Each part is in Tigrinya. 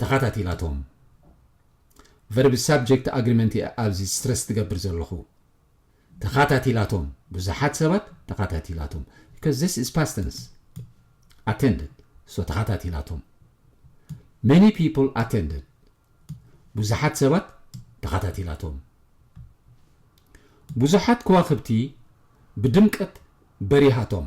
ተኻታቲላቶም ቨርብ ሳብጀክት ኣግሪመንት እየ ኣብዚ ስትረስ ትገብር ዘለኹ ተኻታቲላቶም ብዙሓት ሰባት ተኻታቲላቶም because this is past tense attended so ተኻታቲላቶም many people attended ብዙሓት ሰባት ተኻታቲላቶም ብዙሓት ከዋኽብቲ ብድምቀት በሪሃቶም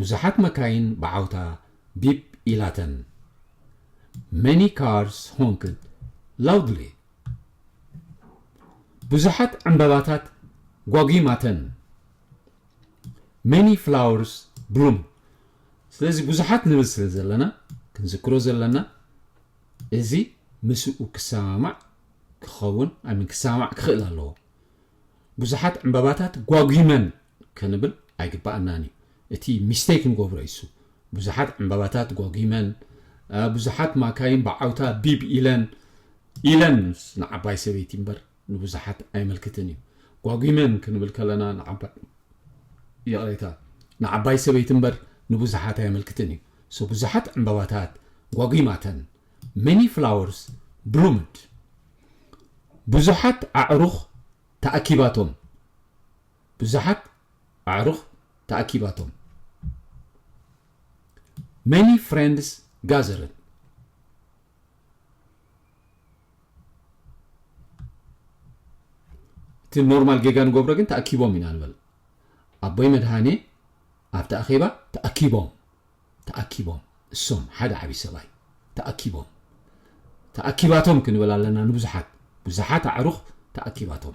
ብዙሓት መካይን ብዓውታ ቢፕ ኢላተን። Many cars honked loudly። ብዙሓት ዕምባባታት ጓጒማተን። Many flowers bloomed። ስለዚ ብዙሓት ንብል ስለ ዘለና ክንዝክሮ ዘለና እዚ ምስኡ ክሰማማዕ ክኸውን ኣይ ሚን ክሰማማዕ ክኽእል ኣለዎ። ብዙሓት ዕምባባታት ጓጒመን ክንብል ኣይግባኣናን እዩ እቲ ሚስተይክ ንገብሮ እሱ ብዙሓት ዕንባባታት ጎጊመን ብዙሓት ማካይን ብዓውታ ቢብ ኢለን ኢለን ንዓባይ ሰበይቲ እምበር ንብዙሓት ኣይመልክትን እዩ ጓጒመን ክንብል ከለና ንዓባይ ይቕሬታ ንዓባይ ሰበይቲ እምበር ንብዙሓት ኣይመልክትን እዩ ሶ ብዙሓት ዕንባባታት ጓጒማተን ሜኒ ፍላወርስ ብሉምድ ብዙሓት ኣዕሩኽ ተኣኪባቶም ብዙሓት ኣዕሩኽ ተኣኪባቶም፣ Many friends gathered። እቲ ኖርማል ጌጋ ንገብሮ ግን ተኣኪቦም ኢና ንበል። ኣቦይ መድሃኔ ኣብቲ ኣኼባ ተኣኪቦም። ተኣኪቦም እሶም ሓደ ዓቢ ሰብኣይ ተኣኪቦም ተኣኪባቶም ክንብል ኣለና ንብዙሓት ብዙሓት ኣዕሩኽ ተኣኪባቶም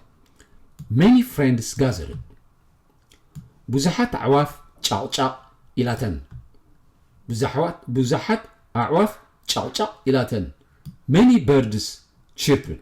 many friends gathered ብዙሓት ኣዕዋፍ ጫቕጫቕ ኢላተን ብዙሓት ብዙሓት ኣዕዋፍ ጫቕጫቕ ኢላተን many birds chirped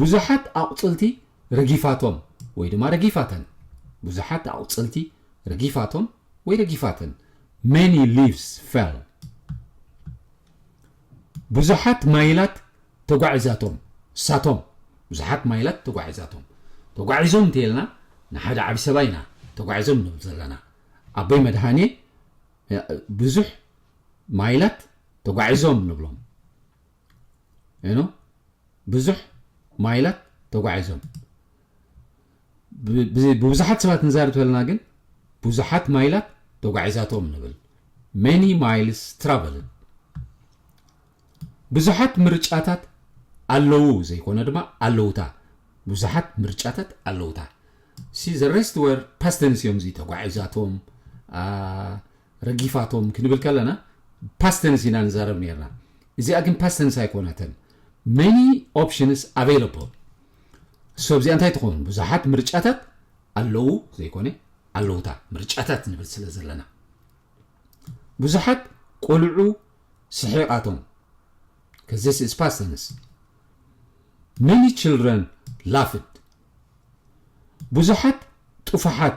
ብዙሓት ኣቝጽልቲ ረጊፋቶም ወይ ድማ ረጊፋተን ብዙሓት ኣቝጽልቲ ረጊፋቶም ወይ ረጊፋተን Many leaves fell ብዙሓት ማይላት ተጓዒዛቶም ሳቶም ብዙሓት ማይላት ተጓዒዛቶም ተጓዒዞም እንተይልና ንሓደ ዓቢ ሰባ ኢና ተጓዒዞም ንብል ዘለና ኣቦይ መድሃኔ ብዙሕ ማይላት ተጓዒዞም ንብሎም ኖ ብዙሕ ማይላት ተጓዒዞም ብብዙሓት ሰባት ንዛርብ ተለና ግን ብዙሓት ማይላት ተጓዒዛቶም ንብል ሜኒ ማይልስ ትራቨልን ብዙሓት ምርጫታት ኣለዉ ዘይኮነ ድማ ኣለውታ ብዙሓት ምርጫታት ኣለውታ ሲ ዘ ሬስት ወር ፓስተንስ እዮም እዚ ተጓዒዛቶም ረጊፋቶም ክንብል ከለና ፓስት ተንስ ኢና ንዛረብ ኔርና እዚኣ ግን ፓስት ተንስ ኣይኮነትን many options available so እዚኣ እንታይ ትኸውን ብዙሓት ምርጫታት ኣለዉ ዘይኮነ ኣለውታ ምርጫታት ንብል ስለ ዘለና ብዙሓት ቆልዑ ስሒቓቶም because this is past tense many children laughed ብዙሓት ጥፉሓት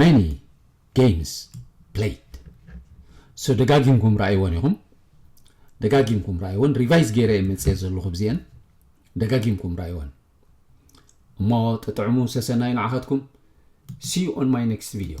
Many games played so ደጋጊምኩም ረኣይወን ኢኹም ደጋጊምኩም ረኣይወን ሪቫይዝ ገይረ እየ መፅኤ ዘለኹ ብዚአን ደጋጊምኩም ረኣይወን እሞ ጥጥዕሙ ሰሰናዩ ንዓኻትኩም see you on my next video